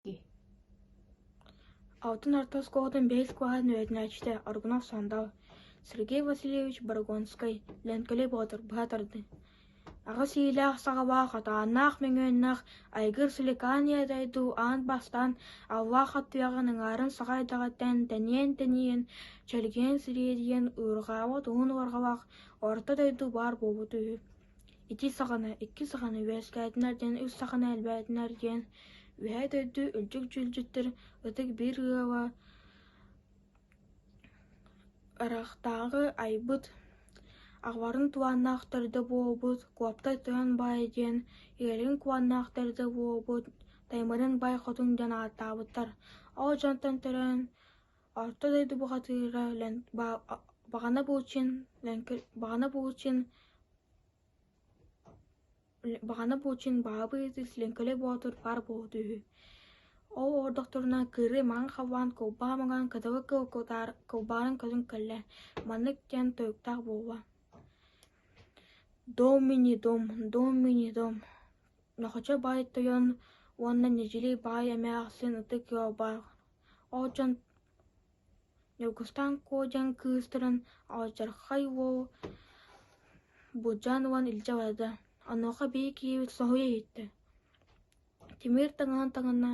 дии алтан орто оскуолатын бэс кылааһын үөрэтинээччитэ Аргунов Сандал Сергей Васильевич Барагонскай Лэҥкэлэй Боотур быһа тардыы аҕыс иилээх саҕалаах атааннаах мөҥүөннээх айгыр силикааньа дойду аан бастаан аллаах аттыаҕын аҥаарын саха айдаҕыттан тэниэн-тэнийэн чэлгиэн-сириэдийэн уйурҕаабыт уһун уорҕалаах орто дойду баар буолбута үһү ити саҕана икки саҕана үөскээтинэр диэн үс саҕана элбээтинэр диэн үөһээ дойду өлдьүк-дьүүлдьүттэр ытык биир ыала арыахтааҕы айбыт аҕаларын туһааннаахтар да буолбут куоптай тойон баай диэн ийэлэрин куһааннаахтар да буолбут таймырын бай хотун диэн ааттаабыттар ол дьонтон төрөөн Орто дойду бухатыыра өлөн баҕана буолчун баҕана буолчун баҕана буолчун баһаабыйытык Лэҥкэлэй Боотур баар буолбута үһү. Ол ордохторуна кыырыы маҥан хаваан кылбаа маҥан кытылы кылкутаар кылбаарын көтөн кэллэ маннык диэн тойуктаах буолла Домини-дом, домини-дом Нохочо баай тойон уонна Нэдьили баай эмэ ахсын ытык ыал баар Ол дьон Ньургустаан Куодьан кыыстарын алдьархай уол Будьаан уон илдьэ барда, онуоха биһиги киһибит соһуйа иһиттэ: Тимир таҥаһын таҥна